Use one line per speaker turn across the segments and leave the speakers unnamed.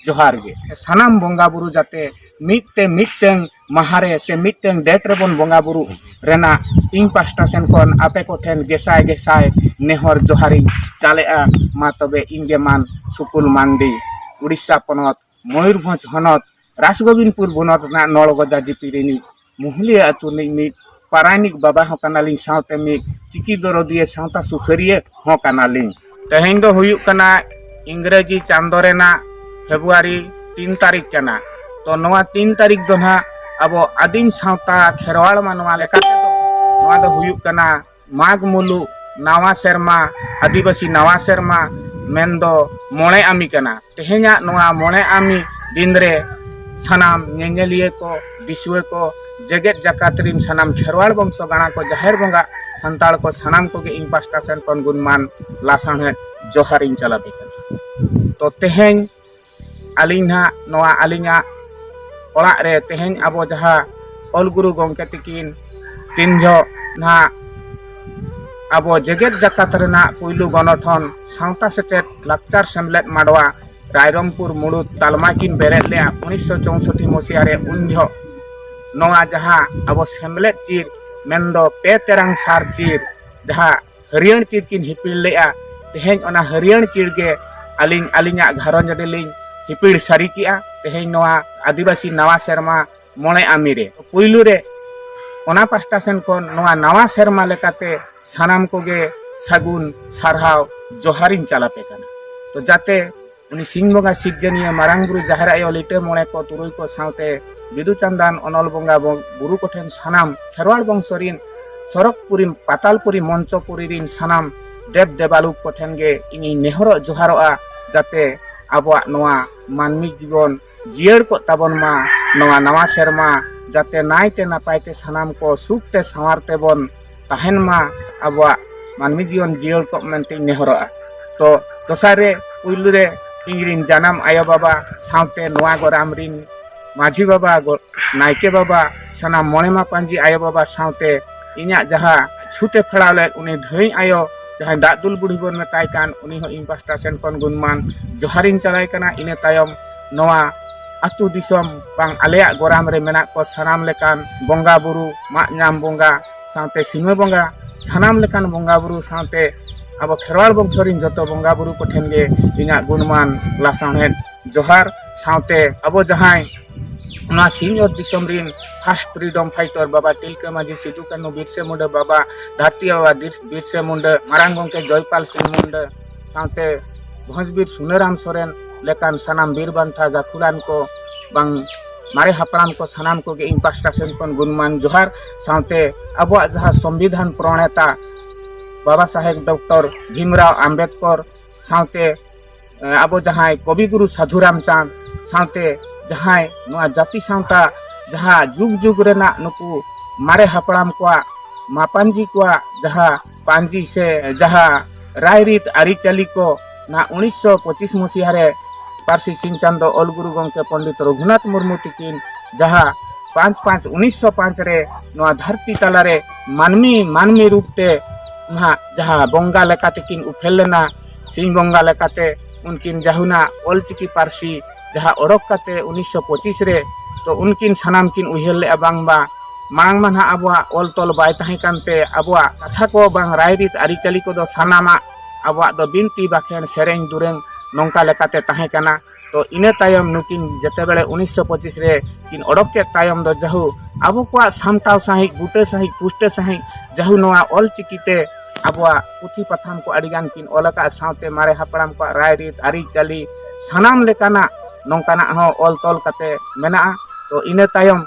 ᱡᱚᱦᱟᱨ ᱜᱮ ᱥᱟᱱᱟᱢ ᱵᱚᱸᱜᱟ ᱵᱩᱨᱩ ᱡᱟᱛᱮ ᱢᱤᱫᱛᱮ ᱢᱤᱫᱴᱟᱝ ᱢᱟᱦᱟᱨᱮ ᱥᱮ ᱢᱤᱫᱴᱟᱝ ᱰᱮᱴ ᱨᱮᱵᱚᱱ ᱵᱚᱸᱜᱟ ᱵᱩᱨᱩ ᱨᱮᱱᱟᱜ ᱤᱧ ᱯᱟᱥᱴᱟ ᱥᱮᱱ ᱠᱷᱚᱱ ᱟᱯᱮ ᱠᱚᱴᱷᱮᱱ ᱜᱮᱥᱟᱭ ᱜᱮᱥᱟᱭ ᱱᱮᱦᱚᱨ ᱡᱚᱦᱟᱨᱤᱧ ᱪᱟᱞᱮᱜᱼᱟ ᱢᱟ ᱛᱚᱵᱮ ᱤᱧ ᱜᱮ ᱢᱟᱱ ᱥᱩᱠᱩᱞ ᱢᱟᱱᱰᱤ ᱩᱲᱤᱥᱥᱟ ᱯᱚᱱᱚᱛ ᱢᱚᱭᱩᱨᱵᱷᱚᱸᱡᱽ ᱦᱚᱱᱚᱛ ᱨᱟᱥᱜᱳᱵᱤᱱᱫᱽᱯᱩᱨ ᱵᱚᱱᱚᱛ ᱨᱮᱱᱟᱜ ᱱᱚᱲᱜᱚᱡᱟ ᱡᱤᱯᱤ ᱨᱤᱱᱤᱡ ᱢᱩᱦᱞᱤᱭᱟᱹ ᱟᱹᱛᱩ ᱨᱤᱱᱤᱡ ᱢᱤᱫ ᱯᱟᱨᱟᱭᱱᱤᱠ ᱵᱟᱵᱟ ᱦᱚᱸ ᱠᱟᱱᱟᱞᱤᱧ ᱥᱟᱶᱛᱮ ᱢᱤᱫ ᱪᱤᱠᱤ ᱫᱚᱨᱚᱫᱤᱭᱟᱹ ᱥᱟᱶᱛᱟ ᱥᱩᱥᱟᱹᱨᱤᱭᱟᱹ ᱦᱚᱸ ᱠᱟᱱᱟᱞᱤᱧ ᱛᱮᱦᱮᱧ ᱫᱚ ᱦᱩᱭᱩᱜ ᱠᱟᱱᱟ ᱤᱝᱨᱮᱡᱤ ᱪᱟᱸᱫᱚ ᱨᱮᱱᱟᱜ ᱯᱷᱮᱵᱽᱨᱩᱣᱟᱨᱤ ᱛᱤᱱ ᱛᱟᱹᱨᱤᱠᱷ ᱠᱟᱱᱟ ᱛᱚ ᱱᱚᱣᱟ ᱛᱤᱱ ᱛᱟᱹᱨᱤᱠᱷ ᱫᱚ ᱱᱟᱦᱟᱜ ᱟᱵᱚ ᱟᱹᱫᱤᱢ ᱥᱟᱶᱛᱟ ᱠᱷᱮᱨᱣᱟᱲ ᱢᱟᱱᱣᱟ ᱞᱮᱠᱟᱛᱮ ᱫᱚ ᱱᱚᱣᱟ ᱫᱚ ᱦᱩᱭᱩᱜ ᱠᱟᱱᱟ ᱢᱟᱜᱽ ᱢᱩᱞᱩᱜ ᱱᱟᱣᱟ ᱥᱮᱨᱢᱟ ᱟᱹᱫᱤᱵᱟᱹᱥᱤ ᱱᱟᱣᱟ ᱥᱮᱨᱢᱟ ᱢᱮᱱ ᱫᱚ ᱢᱚᱬᱮ ᱟᱢᱤ ᱠᱟᱱᱟ ᱛᱮᱦᱮᱧᱟᱜ ᱱᱚᱣᱟ ᱢᱚᱬᱮ ᱟᱢᱤ ᱫᱤᱱ ᱨᱮ ᱥᱟᱱᱟᱢ ᱧᱮᱧᱮᱞᱤᱭᱟᱹ ᱠᱚ ᱫᱤᱥᱩᱣᱟᱹ ᱠᱚ ᱡᱮᱜᱮᱛ ᱡᱟᱠᱟᱛ ᱨᱤᱱ ᱥᱟᱱᱟᱢ ᱠᱷᱮᱨᱣᱟᱲ ᱵᱚᱝᱥᱚ ᱜᱟᱬᱟ ᱠᱚ ᱡᱟᱦᱮᱨ ᱵᱚᱸᱜᱟ ᱥᱟᱱᱛᱟᱲ ᱠᱚ ᱥᱟᱱᱟᱢ ᱠᱚᱜᱮ ᱤᱧ ᱯᱟᱥᱴᱟ ᱥᱮᱱ ᱠᱷᱚᱱ ᱜᱩᱱᱢᱟᱱ ᱞᱟᱥᱟᱲᱦᱮᱫ ᱡᱚᱦᱟᱨ ᱤᱧ ᱪᱟᱞ ᱟᱯᱮ ᱠᱟᱱᱟ ᱛᱚ ᱛᱮᱦᱮᱧ ᱟᱹᱞᱤᱧ ᱱᱟᱦᱟᱜ ᱱᱚᱣᱟ ᱟᱹᱞᱤᱧᱟᱜ ᱚᱲᱟᱜ ᱨᱮ ᱛᱮᱦᱮᱧ ᱟᱵᱚ ᱡᱟᱦᱟᱸ ᱚᱞ ᱜᱩᱨᱩ ᱜᱚᱢᱠᱮ ᱛᱤᱠᱤᱱ ᱛᱤᱱ ᱡᱚᱦᱚᱜ ᱱᱟᱦᱟᱜ ᱟᱵᱚ ᱡᱮᱜᱮᱛ ᱡᱟᱠᱟᱛ ᱨᱮᱱᱟᱜ ᱯᱩᱭᱞᱩ ᱜᱚᱱᱚᱴᱷᱚᱱ ᱥᱟᱶᱛᱟ ᱥᱮᱪᱮᱫ ᱞᱟᱠᱪᱟᱨ ᱥᱮᱢᱞᱮᱫ ᱢᱟᱰᱣᱟ ᱨᱟᱭᱨᱚᱝᱯᱩᱨ ᱢᱩᱲᱩᱫ ᱛᱟᱞᱢᱟ ᱠᱤᱱ ᱵᱮᱨᱮᱫ ᱞᱮᱫᱼᱟ ᱩᱱᱤᱥᱥᱚ ᱪᱳᱣᱥᱚᱴᱴᱤ ᱢᱚᱥᱤᱭᱟ ᱨᱮ ᱩᱱ ᱡᱚᱦᱚᱜ ᱱᱚᱣᱟ ᱡᱟᱦᱟᱸ ᱟᱵᱚ ᱥᱮᱢᱞᱮᱫ ᱪᱤᱨ ᱢᱮᱱᱫᱚ ᱯᱮ ᱛᱮᱨᱟᱝ ᱥᱟᱨ ᱪᱤᱨ ᱡᱟᱦᱟᱸ ᱦᱟᱹᱨᱭᱟᱹᱲ ᱪᱤᱨ ᱠᱤᱱ ᱦᱤᱯᱤᱲ ᱞᱮᱫᱼᱟ ᱛᱮᱦᱮᱧ ᱚᱱᱟ ᱦᱟᱹᱨᱭᱟᱹᱲ ᱪᱤᱨ ᱜᱮ ᱟᱹᱞᱤᱧ ᱟᱹᱞᱤᱧᱟᱜ ᱜᱷᱟᱨᱚᱸᱡᱽ ᱨᱮᱞᱤᱧ ᱦᱤᱯᱤᱲ ᱥᱟᱹᱨᱤ ᱠᱮᱜᱼᱟ ᱛᱮᱦᱮᱧ ᱱᱚᱣᱟ ᱟᱹᱫᱤᱵᱟᱹᱥᱤ ᱱᱟᱣᱟ ᱥᱮᱨᱢᱟ ᱢᱚᱬᱮ ᱟᱢᱤ ᱨᱮ ᱯᱩᱭᱞᱩ ᱨᱮ ᱚᱱᱟ ᱯᱟᱥᱴᱟ ᱥᱮᱱ ᱠᱷᱚᱱ ᱱᱚᱣᱟ ᱱᱟᱣᱟ ᱥᱮᱨᱢᱟ ᱞᱮᱠᱟᱛᱮ ᱥᱟᱱᱟᱢ ᱠᱚᱜᱮ ᱥᱟᱹᱜᱩᱱ ᱥᱟᱨᱦᱟᱣ ᱡᱚᱦᱟᱨᱤᱧ ᱪᱟᱞᱟᱯᱮ ᱠᱟᱱᱟ ᱛᱚ ᱡᱟᱛᱮ ᱩᱱᱤ ᱥᱤᱧ ᱵᱚᱸᱜᱟ ᱥᱤᱨᱡᱚᱱᱤᱭᱟᱹ ᱢᱟᱨᱟᱝ ᱵᱩᱨᱩ ᱡᱟᱦᱮᱨ ᱟᱭᱳ ᱞᱤᱴᱟᱹ ᱢᱚᱬᱮ ᱠᱚ ᱛᱩᱨᱩᱭ ᱠᱚ ᱥᱟᱶᱛᱮ ᱵᱤᱫᱩ ᱪᱟᱸᱫᱟᱱ ᱚᱱᱚᱞ ᱵᱚᱸᱜᱟ ᱵᱩᱨᱩ ᱠᱚᱴᱷᱮᱱ ᱥᱟᱱᱟᱢ ᱠᱷᱮᱨᱣᱟᱲ ᱵᱚᱝᱥᱚ ᱨᱤᱱ ᱥᱚᱨᱚᱜᱽᱯᱩᱨᱤ ᱯᱟᱛᱟᱞᱯᱩᱨᱤ ᱢᱚᱧᱪᱚᱯᱩᱨᱤ ᱨᱤᱱ ᱥᱟᱱᱟᱢ ᱫᱮᱵ ᱫᱮᱵᱟᱞᱩᱠ ᱠᱚᱴᱷᱮᱱ ᱜᱮ ᱤᱧᱤᱧ ᱱᱮᱦᱚᱨᱚᱜ ᱡᱚᱦᱟᱨᱚᱜᱼᱟ ᱡᱟᱛᱮ ᱟᱵᱚᱣᱟᱜ ᱱᱚᱣᱟ ᱢᱟᱹᱱᱢᱤ ᱡᱤᱵᱚᱱ ᱡᱤᱭᱟᱹᱲ ᱠᱚᱜ ᱛᱟᱵᱚᱱ ᱢᱟ ᱱᱚᱣᱟ ᱱᱟᱣᱟ ᱥᱮᱨᱢᱟ ᱡᱟᱛᱮ ᱱᱟᱭᱛᱮ ᱱᱟᱯᱟᱭᱛᱮ ᱥᱟᱱᱟᱢ ᱠᱚ ᱥᱩᱠᱛᱮ ᱥᱟᱶᱟᱨ ᱛᱮᱵᱚᱱ ᱛᱟᱦᱮᱱ ᱢᱟ ᱟᱵᱚᱣᱟᱜ ᱢᱟᱹᱱᱢᱤ ᱡᱤᱭᱚᱱ ᱡᱤᱭᱟᱹᱲ ᱠᱚᱜ ᱢᱮᱱᱛᱮᱧ ᱱᱮᱦᱚᱨᱚᱜᱼᱟ ᱛᱚ ᱫᱚᱥᱟᱨ ᱨᱮ ᱯᱩᱭᱞᱩ ᱨᱮ ᱤᱧᱨᱮᱱ ᱡᱟᱱᱟᱢ ᱟᱭᱳ ᱵᱟᱵᱟ ᱥᱟᱶᱛᱮ ᱱᱚᱣᱟ ᱜᱚᱨᱟᱢ ᱨᱮᱱ ᱢᱟᱹᱡᱷᱤ ᱵᱟᱵᱟ ᱱᱟᱭᱠᱮ ᱵᱟᱵᱟ ᱥᱟᱱᱟᱢ ᱢᱚᱬᱮ ᱢᱟᱯᱟᱡᱤ ᱟᱭᱳ ᱵᱟᱵᱟ ᱥᱟᱶᱛᱮ ᱤᱧᱟᱹᱜ ᱡᱟᱦᱟᱸ ᱪᱷᱩᱴᱮ ᱯᱷᱮᱲᱟᱣ ᱞᱮᱫ ᱩᱱᱤ ᱫᱷᱟᱹᱭ ᱟᱭᱳ ᱡᱟᱦᱟᱸᱭ ᱫᱟᱜ ᱫᱩᱞ ᱵᱩᱲᱦᱤ ᱵᱚᱱ ᱢᱮᱛᱟᱭ ᱠᱟᱱ ᱩᱱᱤ ᱦᱚᱸ ᱤᱧ ᱯᱟᱥᱴᱟ ᱥᱮᱱ ᱠᱷᱚᱱ ᱜᱩᱱᱢᱟᱱ ᱡᱚᱦᱟᱨᱤᱧ ᱪᱟᱞᱟᱭ ᱠᱟᱱᱟ ᱤᱱᱟᱹ ᱛᱟᱭᱚᱢ ᱱᱚᱣᱟ ᱟᱛᱳ ᱫᱤᱥᱚᱢ ᱵᱟᱝ ᱟᱞᱮᱭᱟᱜ ᱜᱚᱨᱟᱢ ᱨᱮ ᱢᱮᱱᱟᱜ ᱠᱚ ᱥᱟᱱᱟᱢ ᱞᱮᱠᱟᱱ ᱵᱚᱸᱜᱟ ᱵᱩᱨᱩ ᱢᱟᱜ ᱧᱟᱢ ᱵᱚᱸᱜᱟ ᱥᱟᱶᱛᱮ ᱥᱤᱢᱟᱹ ᱵᱚᱸᱜᱟ ᱥᱟᱱᱟᱢ ᱞᱮᱠᱟᱱ ᱵᱚᱸᱜᱟ ᱵᱩᱨᱩ ᱥᱟᱶᱛᱮ ᱟᱵᱚ ᱠᱷᱮᱨᱣᱟᱲ ᱵᱚᱝᱥᱚ ᱨᱮᱱ ᱡᱚᱛᱚ ᱵᱚᱸᱜᱟ ᱵᱩᱨᱩ ᱠᱚᱴᱷᱮᱱ ᱜᱮ ᱤᱧᱟᱹᱜ ᱜᱩᱱᱢᱟᱱ ᱞᱟᱥᱟᱲᱦᱮᱫ ᱡᱚᱦᱟᱨ ᱥᱟᱶᱛᱮ ᱟᱵᱚ ᱡᱟᱦᱟᱸᱭ ᱚᱱᱟ ᱥᱤᱧᱚᱛ ᱫᱤᱥᱚᱢ ᱨᱤᱱ ᱯᱷᱟᱥᱴ ᱯᱷᱨᱤᱰᱚᱢ ᱯᱷᱟᱭᱴᱚᱨ ᱵᱟᱵᱟ ᱛᱤᱞᱠᱟᱹ ᱢᱟᱹᱡᱷᱤ ᱥᱤᱫᱩ ᱠᱟᱹᱱᱩ ᱵᱤᱨᱥᱮ ᱢᱩᱱᱰᱟᱹ ᱵᱟᱵᱟ ᱫᱷᱟᱹᱨᱛᱤ ᱵᱟᱵᱟ ᱵᱤᱨᱥᱮ ᱢᱩᱱᱰᱟᱹ ᱢᱟᱨᱟᱝ ᱜᱚᱢᱠᱮ ᱡᱚᱭᱯᱟᱞ ᱥᱤᱝ ᱢᱩᱱᱰᱟᱹ ᱥᱟᱶᱛᱮ ᱵᱷᱚᱸᱡᱽᱵᱤᱨ ᱥᱩᱱᱟᱹᱨᱟᱢ ᱥᱚᱨᱮᱱ ᱞᱮᱠᱟᱱ ᱥᱟᱱᱟᱢ ᱵᱤᱨ ᱵᱟᱱᱴᱟ ᱜᱟᱹᱠᱷᱩᱲᱟᱱ ᱠᱚ ᱵᱟᱝ ᱢᱟᱨᱮ ᱦᱟᱯᱲᱟᱢ ᱠᱚ ᱥᱟᱱᱟᱢ ᱠᱚᱜᱮ ᱤᱧ ᱯᱟᱥᱴᱟ ᱥᱮᱱ ᱠᱷᱚᱱ ᱜᱩᱱᱢᱟᱱ ᱡᱚᱦᱟᱨ ᱥᱟᱶᱛᱮ ᱟᱵᱚᱣᱟᱜ ᱡᱟᱦᱟᱸ ᱥᱚᱝᱵᱤᱫᱷᱟᱱ ᱯᱨᱚᱬᱮᱛᱟ ᱵᱟᱵᱟ ᱥᱟᱦᱮᱵᱽ ᱰᱚᱠᱴᱚᱨ ᱵᱷᱤᱢᱨᱟᱣ ᱟᱢᱵᱮᱫᱠᱚᱨ ᱥᱟᱶᱛᱮ ᱟᱵᱚ ᱡᱟᱦᱟᱸᱭ ᱠᱚᱵᱤᱜᱩᱨᱩ ᱥᱟᱹᱫᱷᱩ ᱨᱟᱢᱪᱟᱸᱫᱽ ᱥᱟᱶᱛᱮ ᱡᱟᱦᱟᱸᱭ ᱱᱚᱣᱟ ᱡᱟᱹᱛᱤ ᱥᱟᱶᱛᱟ ᱡᱟᱦᱟᱸ ᱡᱩᱜᱽ ᱡᱩᱜᱽ ᱨᱮᱱᱟᱜ ᱱᱩᱠᱩ ᱢᱟᱨᱮ ᱦᱟᱯᱲᱟᱢ ᱠᱚᱣᱟᱜ ᱢᱟᱯᱟᱧᱡᱤ ᱠᱚᱣᱟᱜ ᱡᱟᱦᱟᱸ ᱯᱟᱧᱡᱤ ᱥᱮ ᱡᱟᱦᱟᱸ ᱨᱟᱭᱨᱤᱛ ᱟᱹᱨᱤᱪᱟᱹᱞᱤ ᱠᱚ ᱱᱟ ᱩᱱᱤᱥᱥᱚ ᱯᱚᱸᱪᱤᱥ ᱢᱚᱥᱤᱦᱟ ᱨᱮ ᱯᱟᱹᱨᱥᱤ ᱥᱤᱧ ᱪᱟᱸᱫᱚ ᱚᱞ ᱜᱩᱨᱩ ᱜᱚᱢᱠᱮ ᱯᱚᱱᱰᱤᱛ ᱨᱚᱜᱷᱩᱱᱟᱛᱷ ᱢᱩᱨᱢᱩ ᱛᱤᱠᱤᱱ ᱡᱟᱦᱟᱸ ᱯᱟᱸᱪ ᱯᱟᱸᱪ ᱩᱱᱤᱥᱥᱚ ᱯᱟᱸᱪ ᱨᱮ ᱱᱚᱣᱟ ᱫᱷᱟᱹᱨᱛᱤ ᱛᱟᱞᱟᱨᱮ ᱢᱟᱹᱱᱢᱤ ᱢᱟᱹᱱᱢᱤ ᱨᱩᱯ ᱛᱮ ᱱᱟᱦᱟᱜ ᱡᱟᱦᱟᱸ ᱵᱚᱸᱜᱟ ᱞᱮᱠᱟ ᱛᱮᱠᱤᱱ ᱩᱯᱮᱞ ᱞᱮᱱᱟ ᱥᱤᱧ ᱵᱚᱸᱜᱟ ᱞᱮᱠᱟᱛᱮ ᱩᱱᱠᱤᱱ ᱡᱟᱦᱩᱱᱟ ᱚᱞᱪᱤᱠᱤ ᱯᱟᱹᱨᱥᱤ ᱡᱟᱦᱟᱸ ᱚᱰᱚᱠ ᱠᱟᱛᱮ ᱩᱱᱤᱥᱥᱚ ᱯᱚᱸᱪᱤᱥ ᱨᱮ ᱛᱚ ᱩᱱᱠᱤᱱ ᱥᱟᱱᱟᱢ ᱠᱤᱱ ᱩᱭᱦᱟᱹᱨ ᱞᱮᱜᱼᱟ ᱵᱟᱝ ᱵᱟᱝ ᱢᱟᱲᱟᱝ ᱢᱟ ᱱᱟᱦᱟᱜ ᱟᱵᱚᱣᱟᱜ ᱚᱞ ᱛᱚᱞ ᱵᱟᱭ ᱛᱟᱦᱮᱸ ᱠᱟᱱᱛᱮ ᱟᱵᱚᱣᱟᱜ ᱠᱟᱛᱷᱟ ᱠᱚ ᱵᱟᱝ ᱨᱟᱭᱨᱤᱛ ᱟᱹᱨᱤᱪᱟᱹᱞᱤ ᱠᱚᱫᱚ ᱥᱟᱱᱟᱢᱟᱜ ᱟᱵᱚᱣᱟᱜ ᱫᱚ ᱵᱤᱱᱛᱤ ᱵᱟᱠᱷᱮᱬ ᱥᱮᱨᱮᱧ ᱫᱩᱨᱟᱹᱝ ᱱᱚᱝᱠᱟ ᱞᱮᱠᱟᱛᱮ ᱛᱟᱦᱮᱸ ᱠᱟᱱᱟ ᱛᱚ ᱤᱱᱟᱹ ᱛᱟᱭᱚᱢ ᱱᱩᱠᱤᱱ ᱡᱮᱛᱮ ᱵᱮᱲᱮ ᱩᱱᱤᱥᱥᱚ ᱯᱚᱸᱪᱤᱥ ᱨᱮ ᱠᱤᱱ ᱚᱰᱚᱠ ᱠᱮᱫ ᱛᱟᱭᱚᱢ ᱫᱚ ᱡᱟᱦᱩ ᱟᱵᱚ ᱠᱚᱣᱟᱜ ᱥᱟᱢᱴᱟᱣ ᱥᱟᱺᱦᱤᱡ ᱵᱩᱴᱟᱹ ᱥᱟᱺᱦᱤᱡ ᱯᱩᱥᱴᱟᱹ ᱥᱟᱺᱦᱤᱡ ᱡᱟᱦᱩ ᱱᱚᱣᱟ ᱚᱞ ᱪᱤᱠᱤᱛᱮ ᱟᱵᱚᱣᱟᱜ ᱯᱩᱛᱷᱤ ᱯᱟᱛᱷᱟᱢ ᱠᱚ ᱟᱹᱰᱤᱜᱟᱱ ᱠᱤᱱ ᱚᱞ ᱟᱠᱟᱫ ᱥᱟᱶᱛᱮ ᱢᱟᱨᱮ ᱦᱟᱯᱲᱟᱢ ᱠᱚᱣᱟᱜ ᱨᱟᱭᱨᱤᱛ ᱟᱹᱨᱤᱪᱟᱹᱞᱤ ᱥᱟᱱᱟᱢ ᱞᱮᱠᱟᱱᱟᱜ ᱱᱚᱝᱠᱟᱱᱟᱜ ᱦᱚᱸ ᱚᱞ ᱛᱚᱞ ᱠᱟᱛᱮ ᱢᱮᱱᱟᱜᱼᱟ ᱛᱚ ᱤᱱᱟᱹ ᱛᱟᱭᱚᱢ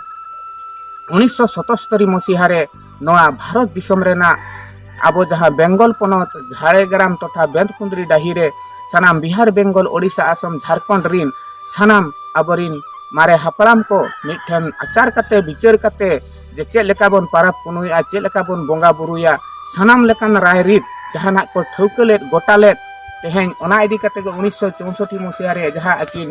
ᱩᱱᱤᱥᱥᱚ ᱥᱚᱛᱚᱥᱛᱚᱨᱤ ᱢᱚᱥᱤᱦᱟ ᱨᱮ ᱱᱚᱣᱟ ᱵᱷᱟᱨᱚᱛ ᱫᱤᱥᱚᱢ ᱨᱮᱱᱟᱜ ᱟᱵᱚ ᱡᱟᱦᱟᱸ ᱵᱮᱝᱜᱚᱞ ᱯᱚᱱᱚᱛ ᱡᱷᱟᱲᱜᱨᱟᱢ ᱛᱚᱛᱷᱟ ᱵᱮᱸᱛᱠᱩᱸᱫᱽᱨᱤ ᱰᱟᱹᱦᱤ ᱨᱮ ᱥᱟᱱᱟᱢ ᱵᱤᱦᱟᱨ ᱵᱮᱝᱜᱚᱞ ᱳᱰᱤᱥᱟ ᱟᱥᱟᱢ ᱡᱷᱟᱲᱠᱷᱚᱸᱰ ᱨᱤᱱ ᱥᱟᱱᱟᱢ ᱟᱵᱚᱨᱤᱱ ᱢᱟᱨᱮ ᱦᱟᱯᱲᱟᱢ ᱠᱚ ᱢᱤᱫᱴᱷᱮᱱ ᱟᱪᱟᱨ ᱠᱟᱛᱮ ᱵᱤᱪᱟᱹᱨ ᱠᱟᱛᱮ ᱡᱮ ᱪᱮᱫ ᱞᱮᱠᱟ ᱵᱚᱱ ᱯᱟᱨᱟᱵᱽ ᱯᱩᱱᱩᱭᱟ ᱪᱮᱫ ᱞᱮᱠᱟ ᱵᱚᱱ ᱵᱚᱸᱜᱟ ᱵᱩᱨᱩᱭᱟ ᱥᱟᱱᱟᱢ ᱞᱮᱠᱟᱱ ᱨᱟᱭ ᱨᱤᱛ ᱡᱟᱦᱟᱱᱟᱜ ᱠᱚ ᱴᱷᱟᱹᱣᱠᱟᱹ ᱞᱮᱫ ᱜᱚᱴᱟ ᱞᱮᱫ ᱛᱮᱦᱮᱧ ᱚᱱᱟ ᱤᱫᱤ ᱠᱟᱛᱮ ᱜᱮ ᱩᱱᱤᱥᱥᱚ ᱪᱳᱣᱥᱚᱴᱴᱤ ᱢᱚᱥᱤᱭᱟ ᱨᱮ ᱡᱟᱦᱟᱸ ᱟᱹᱠᱤᱱ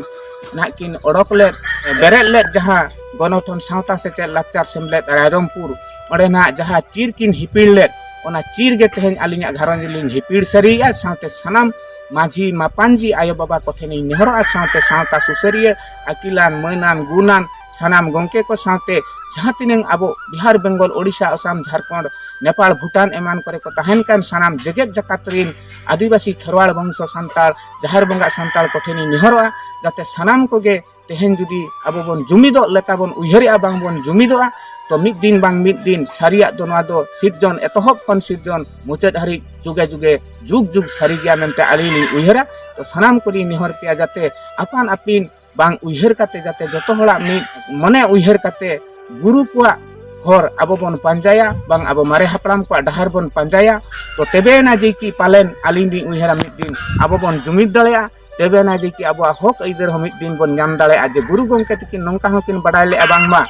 ᱱᱟᱦᱟᱜ ᱠᱤᱱ ᱚᱰᱚᱠ ᱞᱮᱫ ᱵᱮᱨᱮᱫ ᱞᱮᱫ ᱡᱟᱦᱟᱸ ᱜᱚᱱᱚᱴᱷᱚᱱ ᱥᱟᱶᱛᱟ ᱥᱮᱪᱮᱫ ᱞᱟᱠᱪᱟᱨ ᱥᱮᱢᱞᱮᱫ ᱨᱟᱭᱨᱚᱝᱯᱩᱨ ᱚᱸᱰᱮᱱᱟᱜ ᱡᱟᱦᱟᱸ ᱪᱤᱨ ᱠᱤᱱ ᱦᱤᱯᱤᱲ ᱞᱮᱫ ᱚᱱᱟ ᱪᱤᱨ ᱜᱮ ᱛᱮᱦᱮᱧ ᱟᱹᱞᱤᱧᱟᱜ ᱜᱷᱟᱨᱚᱸᱡᱽ ᱞᱤᱧ ᱦᱤᱯᱤᱲ ᱥᱟᱹᱨᱤᱭᱮᱜᱼᱟ ᱥᱟᱶᱛᱮ ᱥᱟᱱᱟᱢ ᱢᱟᱹᱡᱷᱤ ᱢᱟᱯᱟᱱᱡᱤ ᱟᱭᱳ ᱵᱟᱵᱟ ᱠᱚᱴᱷᱮᱱᱤᱧ ᱱᱮᱦᱚᱨᱚᱜᱼᱟ ᱥᱟᱶᱛᱮ ᱥᱟᱶᱛᱟ ᱥᱩᱥᱟᱹᱨᱤᱭᱟᱹ ᱟᱹᱠᱤᱞᱟᱱ ᱢᱟᱹᱱᱟᱱ ᱜᱩᱱᱟᱱ ᱥᱟᱱᱟᱢ ᱜᱚᱢᱠᱮ ᱠᱚ ᱥᱟᱶᱛᱮ ᱡᱟᱦᱟᱸ ᱛᱤᱱᱟᱹᱝ ᱟᱵᱚ ᱵᱤᱦᱟᱨ ᱵᱮᱝᱜᱚᱞ ᱳᱰᱤᱥᱟ ᱟᱥᱟᱢ ᱡᱷᱟᱲᱠᱷᱚᱸᱰ ᱱᱮᱯᱟᱲ ᱵᱷᱩᱴᱟᱱ ᱮᱢᱟᱱ ᱠᱚᱨᱮ ᱠᱚ ᱛᱟᱦᱮᱱ ᱠᱟᱱ ᱥᱟᱱᱟᱢ ᱡᱮᱜᱮᱛ ᱡᱟᱠᱟᱛ ᱨᱤᱱ ᱟᱹᱫᱤᱵᱟᱹᱥᱤ ᱠᱷᱮᱨᱣᱟᱲ ᱵᱚᱝᱥᱚ ᱥᱟᱱᱛᱟᱲ ᱡᱟᱦᱮᱨ ᱵᱚᱸᱜᱟ ᱥᱟᱱᱛᱟᱲ ᱠᱚᱴᱷᱮᱱᱤᱧ ᱱᱮᱦᱚᱨᱚᱜᱼᱟ ᱡᱟᱛᱮ ᱥᱟᱱᱟᱢ ᱠᱚᱜᱮ ᱛᱮᱦᱮᱧ ᱡᱩᱫᱤ ᱟᱵᱚ ᱵᱚᱱ ᱡᱩᱢᱤᱫᱚᱜ ᱞᱮᱠᱟ ᱵᱚᱱ ᱩᱭᱦᱟᱹᱨᱮᱜᱼᱟ ᱵᱟᱝ ᱵᱚᱱ ᱡᱩᱢᱤᱫᱚᱜᱼᱟ ᱛᱚ ᱢᱤᱫ ᱫᱤᱱ ᱵᱟᱝ ᱢᱤᱫ ᱫᱤᱱ ᱥᱟᱹᱨᱤᱭᱟᱜ ᱫᱚ ᱱᱚᱣᱟ ᱫᱚ ᱥᱤᱨᱡᱚᱱ ᱮᱛᱚᱦᱚᱵ ᱠᱷᱚᱱ ᱥᱤᱨᱡᱚᱱ ᱢᱩᱪᱟᱹᱫ ᱦᱟᱹᱨᱤᱡ ᱡᱩᱜᱮ ᱡᱩᱜᱮ ᱡᱩᱜᱽ ᱡᱩᱜᱽ ᱥᱟᱹᱨᱤ ᱜᱮᱭᱟ ᱢᱮᱱᱛᱮ ᱟᱹᱞᱤᱧ ᱞᱤᱧ ᱩᱭᱦᱟᱹᱨᱟ ᱛᱚ ᱥᱟᱱᱟᱢ ᱠᱚᱞᱤᱧ ᱱᱮᱦᱚᱨ ᱯᱮᱭᱟ ᱡᱟᱛᱮ ᱟᱯᱟᱱ ᱟᱹᱯᱤᱱ ᱵᱟᱝ ᱩᱭᱦᱟᱹᱨ ᱠᱟᱛᱮ ᱡᱟᱛᱮ ᱡᱚᱛᱚ ᱦᱚᱲᱟᱜ ᱢᱤᱫ ᱢᱚᱱᱮ ᱩᱭᱦᱟᱹᱨ ᱠᱟᱛᱮ ᱜᱩᱨᱩ ᱠᱚᱣᱟᱜ ᱦᱚᱨ ᱟᱵᱚ ᱵᱚᱱ ᱯᱟᱸᱡᱟᱭᱟ ᱵᱟᱝ ᱟᱵᱚ ᱢᱟᱨᱮ ᱦᱟᱯᱲᱟᱢ ᱠᱚᱣᱟᱜ ᱰᱟᱦᱟᱨ ᱵᱚᱱ ᱯᱟᱸᱡᱟᱭᱟ ᱛᱚ ᱛᱮᱵᱮᱭᱮᱱᱟ ᱡᱮ ᱠᱤ ᱯᱟᱞᱮᱱ ᱟᱹᱞᱤᱧ ᱞᱤᱧ ᱩᱭᱦᱟᱹᱨᱟ ᱢᱤᱫ ᱫᱤᱱ ᱟᱵᱚ ᱵᱚᱱ ᱡᱩᱢᱤᱫ ᱫᱟᱲᱮᱭᱟᱜᱼᱟ ᱛᱮᱵᱮᱱᱟ ᱡᱮ ᱠᱤ ᱟᱵᱚᱣᱟᱜ ᱦᱚᱠ ᱟᱹᱭᱫᱟᱹᱨ ᱦᱚᱸ ᱢᱤᱫ ᱫᱤᱱ ᱵᱚᱱ ᱧᱟᱢ ᱫᱟᱲᱮᱭᱟᱜᱼᱟ ᱡᱮ ᱜᱩᱨᱩ ᱜᱚᱢᱠᱮ ᱛᱟᱹᱠᱤᱱ ᱱᱚᱝᱠᱟ ᱦᱚᱸ ᱠᱤᱱ ᱵᱟᱰᱟᱭ ᱞᱮᱜᱼᱟ ᱵᱟᱝᱢᱟ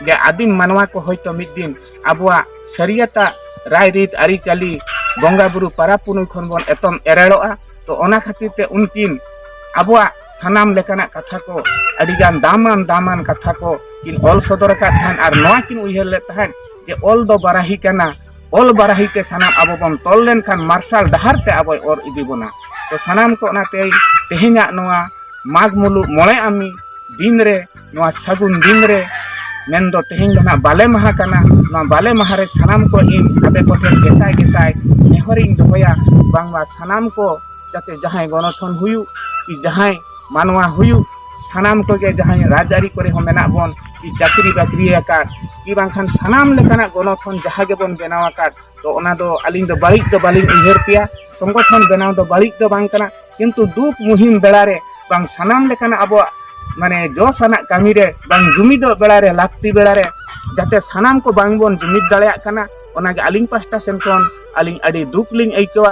ᱡᱮ ᱟᱹᱫᱤᱢ ᱢᱟᱱᱣᱟ ᱠᱚ ᱦᱚᱭᱛᱳ ᱢᱤᱫ ᱫᱤᱱ ᱟᱵᱚᱣᱟᱜ ᱥᱟᱹᱨᱤᱭᱟᱛᱟᱜ ᱨᱟᱭᱨᱤᱛ ᱟᱹᱨᱤᱪᱟᱹᱞᱤ ᱵᱚᱸᱜᱟ ᱵᱩᱨᱩ ᱯᱟᱨᱟᱵᱽ ᱯᱩᱱᱩᱭ ᱠᱷᱚᱱ ᱵᱚᱱ ᱮᱛᱚᱢ ᱮᱨᱮᱲᱚᱜᱼᱟ ᱛᱚ ᱚᱱᱟ ᱠᱷᱟᱹᱛᱤᱨ ᱛᱮ ᱩᱱᱠᱤᱱ ᱟᱵᱚᱣᱟᱜ ᱥᱟᱱᱟᱢ ᱞᱮᱠᱟᱱᱟᱜ ᱠᱟᱛᱷᱟ ᱠᱚ ᱟᱹᱰᱤᱜᱟᱱ ᱫᱟᱢᱟᱱ ᱫᱟᱢᱟᱱ ᱠᱟᱛᱷᱟ ᱠᱚ ᱠᱤᱱ ᱚᱞ ᱥᱚᱫᱚᱨ ᱟᱠᱟᱫ ᱛᱟᱦᱮᱸᱫ ᱟᱨ ᱱᱚᱣᱟ ᱠᱤᱱ ᱩᱭᱦᱟᱹᱨ ᱞᱮᱫ ᱛᱟᱦᱮᱸᱫ ᱡᱮ ᱚᱞ ᱫᱚ ᱵᱟᱨᱟᱦᱤ ᱠᱟᱱᱟ ᱚᱞ ᱵᱟᱨᱟᱦᱤ ᱛᱮ ᱥᱟᱱᱟᱢ ᱟᱵᱚ ᱵᱚᱱ ᱛᱚᱞ ᱞᱮᱱᱠᱷᱟᱱ ᱢᱟᱨᱥᱟᱞ ᱰᱟᱦᱟᱨ ᱛᱮ ᱟᱵᱚᱭ ᱚᱨ ᱤᱫᱤ ᱵᱚᱱᱟ ᱛᱚ ᱥᱟᱱᱟᱢ ᱠᱚ ᱚᱱᱟᱛᱮ ᱛᱮᱦᱮᱧᱟᱜ ᱱᱚᱣᱟ ᱢᱟᱜᱽ ᱢᱩᱞᱩᱜ ᱢᱚᱬᱮ ᱟᱢᱤ ᱫᱤᱱ ᱨᱮ ᱱᱚᱣᱟ ᱥᱟᱹᱜᱩᱱ ᱫᱤᱱ ᱨᱮ ᱢᱮᱱ ᱫᱚ ᱛᱮᱦᱮᱧ ᱫᱚ ᱱᱟᱜ ᱵᱟᱞᱮ ᱢᱟᱦᱟ ᱠᱟᱱᱟ ᱱᱚᱣᱟ ᱵᱟᱞᱮ ᱢᱟᱦᱟ ᱨᱮ ᱥᱟᱱᱟᱢ ᱠᱚ ᱤᱧ ᱟᱯᱮ ᱠᱚᱴᱷᱮᱱ ᱜᱮᱥᱟᱭ ᱜᱮᱥᱟᱭ ᱱᱮᱦᱚᱨᱤᱧ ᱫᱚᱦᱚᱭᱟ ᱵᱟᱝᱢᱟ ᱥᱟᱱᱟᱢ ᱠᱚ ᱡᱟᱛᱮ ᱡᱟᱦᱟᱸᱭ ᱜᱚᱱᱚᱴᱷᱚᱱ ᱦᱩᱭᱩᱜ ᱠᱤ ᱡᱟᱦᱟᱸᱭ ᱢᱟᱱᱣᱟ ᱦᱩᱭᱩᱜ ᱥᱟᱱᱟᱢ ᱠᱚᱜᱮ ᱡᱟᱦᱟᱸᱭ ᱨᱟᱡᱽ ᱟᱹᱨᱤ ᱠᱚᱨᱮ ᱦᱚᱸ ᱢᱮᱱᱟᱜ ᱵᱚᱱ ᱠᱤ ᱪᱟᱹᱠᱨᱤ ᱵᱟᱹᱠᱨᱤ ᱟᱠᱟᱫ ᱠᱤ ᱵᱟᱝᱠᱷᱟᱱ ᱥᱟᱱᱟᱢ ᱞᱮᱠᱟᱱᱟᱜ ᱜᱚᱱᱚᱴᱷᱚᱱ ᱡᱟᱦᱟᱸ ᱜᱮᱵᱚᱱ ᱵᱮᱱᱟᱣ ᱟᱠᱟᱫ ᱛᱚ ᱚᱱᱟ ᱫᱚ ᱟᱹᱞᱤᱧ ᱫᱚ ᱵᱟᱹᱲᱤᱡ ᱫᱚ ᱵᱟᱹᱞᱤᱧ ᱩᱭᱦᱟᱹᱨ ᱯᱮᱭᱟ ᱥᱚᱝᱜᱚᱴᱷᱚᱱ ᱵᱮᱱᱟᱣ ᱫᱚ ᱵᱟᱹᱲᱤᱡ ᱫᱚ ᱵᱟᱝ ᱠᱟᱱᱟ ᱠᱤᱱᱛᱩ ᱫᱩᱠ ᱢᱩᱦᱤᱢ ᱵᱮᱲᱟ ᱨᱮ ᱵᱟᱝ ᱥᱟᱱᱟᱢ ᱞᱮᱠᱟᱱᱟᱜ ᱟᱵᱚᱣᱟᱜ ᱢᱟᱱᱮ ᱡᱚᱥ ᱟᱱᱟᱜ ᱠᱟᱹᱢᱤ ᱨᱮ ᱵᱟᱝ ᱡᱩᱢᱤᱫᱚᱜ ᱵᱮᱲᱟ ᱨᱮ ᱞᱟᱹᱠᱛᱤ ᱵᱮᱲᱟ ᱨᱮ ᱡᱟᱛᱮ ᱥᱟᱱᱟᱢ ᱠᱚ ᱵᱟᱝ ᱵᱚᱱ ᱡᱩᱢᱤᱫ ᱫᱟᱲᱮᱭᱟᱜ ᱠᱟᱱᱟ ᱚᱱᱟᱜᱮ ᱟᱹᱞᱤᱧ ᱯᱟᱥᱴᱟ ᱥᱮᱱ ᱠᱷᱚᱱ ᱟᱹᱞᱤᱧ ᱟᱹᱰᱤ ᱫᱩᱠ ᱞᱤᱧ ᱟᱹᱭᱠᱟᱹᱣᱟ